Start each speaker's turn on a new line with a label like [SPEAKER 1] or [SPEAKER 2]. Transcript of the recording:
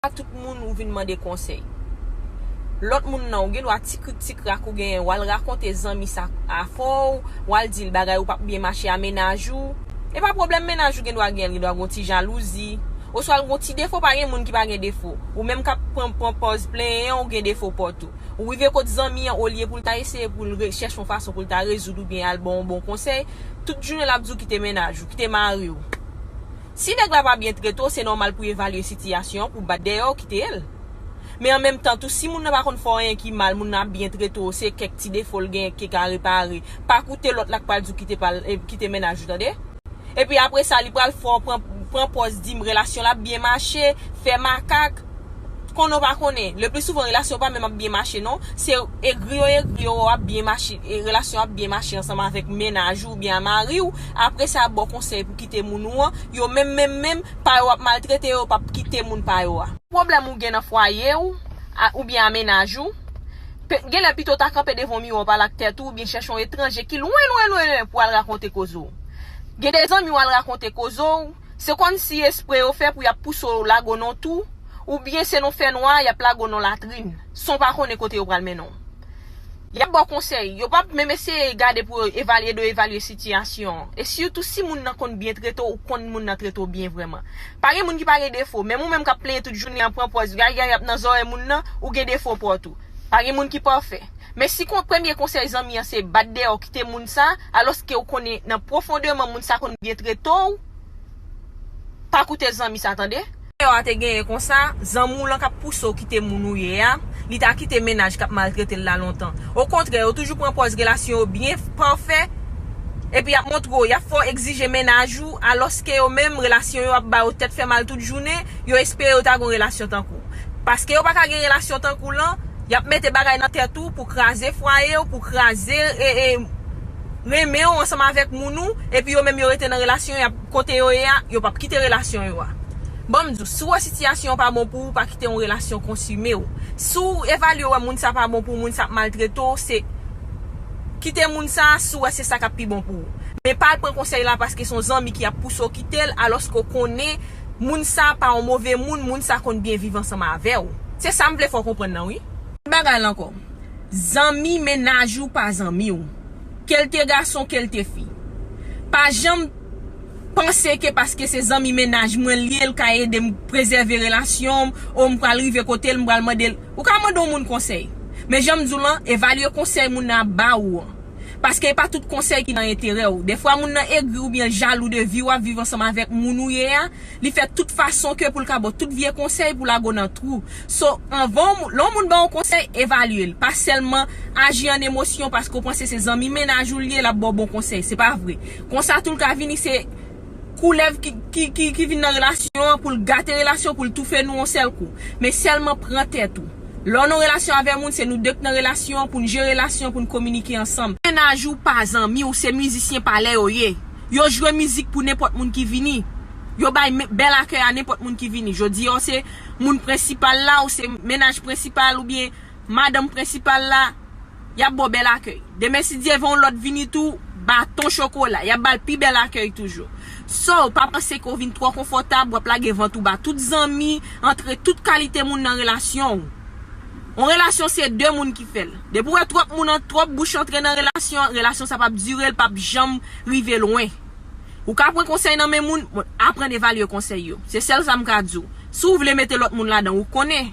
[SPEAKER 1] pa tout moun ou vin mande konsèy. Lòt moun nan ou gen dwa ti krik ti krak ou genyen wal rakonte zanmi sa afòw, wal dil bagay ou pap byen mache a mennaj ou. E pa pwoblèm mennaj ou gen dwa genyen, li gen dwa gen yon ti jalouzi, oswa l gen yon ti defo pa gen moun ki pa gen defo. Ou menm kap pran pran pòz plenyen an ou gen defo paw tou. Ou rive kot zanmi an olye poul ta eseye poul re chèche yon fason poul ta rezoud ou byen al baw yon bon konsèy, tout jounen lap diw kite mennaj ou, kite mariw. Si nèg la pa byen trete w se nòmal pou evalye sitiyasyon an pou bat dèyè w kite l. Men an menm tan tou si moun nan pa konn fè w anyen ki mal moun nan ap byen trete w se kèk ti defo l gen ki ka repare pa koute lòt la k pral di w kite pa l kite mennaj ou tande. Epi apre sa li pral fè w pran pran pòz di m relasyon l ap byen mache fè makak konnen w pa konnen le pli souvan relasyon w pa menm ap byen mache non se egri yo egri yo wè w ap byen mache relasyon w ap byen mache ansanm avèk mennaj ou oubyen a mari w apre sa y ap ba w konsèy pou kite moun ou an, yo menm menm menm pa yo ap maltrete yo yo pap kite moun pa yo a. Pwoblèm ou gen nan fwaye ou oubyen a mennaj ou, genlè pito w ta kanpe devan yon miwa w pale ak tèt ou oubyen chèche yon etranje ki lwen lwen lwen lwen pou al rakonte koze w. Gen de zanmi w al rakonte koze w, se kòm si espre yo fè pou y ap pouse w lage w nan yon tou, oubyen se nan fènwa y ap lage w nan latrin, san w pa konnen kote yo pral mennen w. Y ap ba w konsèy. Yo p ap menm eseye gade pou yo evalye de evalye sitiyasyon an. E sitou si moun nan konn byen trete w, ou konn moun nan trete w byen vrèman. Pa gen moun ki pa gen defo, menm ou menm k ap plenyen tout jounen an pran pòz gay gay ap nan zòrèy moun nan, ou gen defo pa w tou. Pa gen moun ki pafè. Men si kon premye konsèy zanmi an se bat dèyè w kite moun sa, alòske ou konnen nan pwofondeman moun sa konn byen trete w, pa koute zanmi sa tande. Valè w a te genyen konsa, zanmi w lan k ap pouse w kite moun ou ye a, li ta kite mennaj k ap maltrete l la lontan. Okontrè, yo toujou pran pòz relasyon yo byen, pafè, epi y ap montre w y ap fè w egzije mennaj ou, alòske yo menm, relasyon yo ap ba yo tèt fè mal tout jounen, yo espere yo ta gen yon relasyon tankou w. Paske yo pa ka gen relasyon tankou w lan, y ap mete bagay nan tèt ou pou kraze fwaye w, pou kraze renmen w ansanm avèk moun ou, epi yo menm yo rete nan relasyon y ap. Kote yo ye a, yo pap kite relasyon yo a. Banm di w, si w wè sitiyasyon an pa bon pou ou, pa kite yon relasyon konsime w. Si w evalye wè moun sa pa bon pou ou, moun sa ap maltrete w, se Kite moun sa a si w wè se sa k ap pi bon pou ou. Men pa al pran konsèy la paske se yon zanmi ki ap pouse w kite l alòske w konnen moun sa pa yon move moun, moun sa konn byen viv ansanm avè w. Se sa m vle fè w konprann nan wi. Bagay la ankò. Zanmi mennaj ou pa zanmi w. ke l te gason ke l te fi. Pa janm panse ke paske se zanmi mennaj mwen l ye l ka ede m prezève relasyon m, o m pral rive kote l m pral mande l. Ou ka mande yon moun konsèy. Men jan m di w lan, evalye konsèy moun nan ap ba ou an. Paske e pa tout konsèy ki nan enterè ou. Defwa moun nan egri oubyen l jalou de vi w ap viv ansanm avèk moun ou ye a, li fè tout fason ke pou l ka ba w tout vye konsèy pou lague w nan twou. So, anvan w, lè yon moun ba w konsèy, evalye l. Pa sèlman aji an emosyon paske w panse se zanmi mennaj ou l ye, l ap ba w bon konsèy. Se pa vre. Konsa tou l ka vini se koulèv ki vin nan relasyon an pou l gate relasyon, pou l toufe nou yon sèl kou. Men sèlman pran tèt ou. Lè w nan yon relasyon avè moun, se nou de k nan relasyon an pou n jere relasyon an, pou n kominike ansanm. Mennaj ou pa zanmi w, se mizisyen palè yo ye. Yo jwe mizik pou nenpòt moun ki vini. Yo bay bèl akèy a nenpòt moun ki vini. Jodi a w se. moun prensipal la, ou se mennaj prensipal oubyen madanm prensipal la, y ap ba w bèl akèy. Demen si Dye vè yon lòt vini tou, baton chokola, y ap ba l pi bèl akèy toujou. Sò, pa panse ke w vin twò konfòtab, w ap lage vant ou ba tout zanmi, antre tout kalite moun nan relasyon w. Yon relasyon se 2 moun ki fè l. Depi w wè twòp moun, twòp bouch antre nan relasyon, relasyon sa p ap dire, l p ap janm rive lwen. Ou ka pran konsèy nan men moun, bon aprann evalye konsèy yo. Se sèl sa m ka di w. Si w vle mete lòt moun ladan, ou konnen.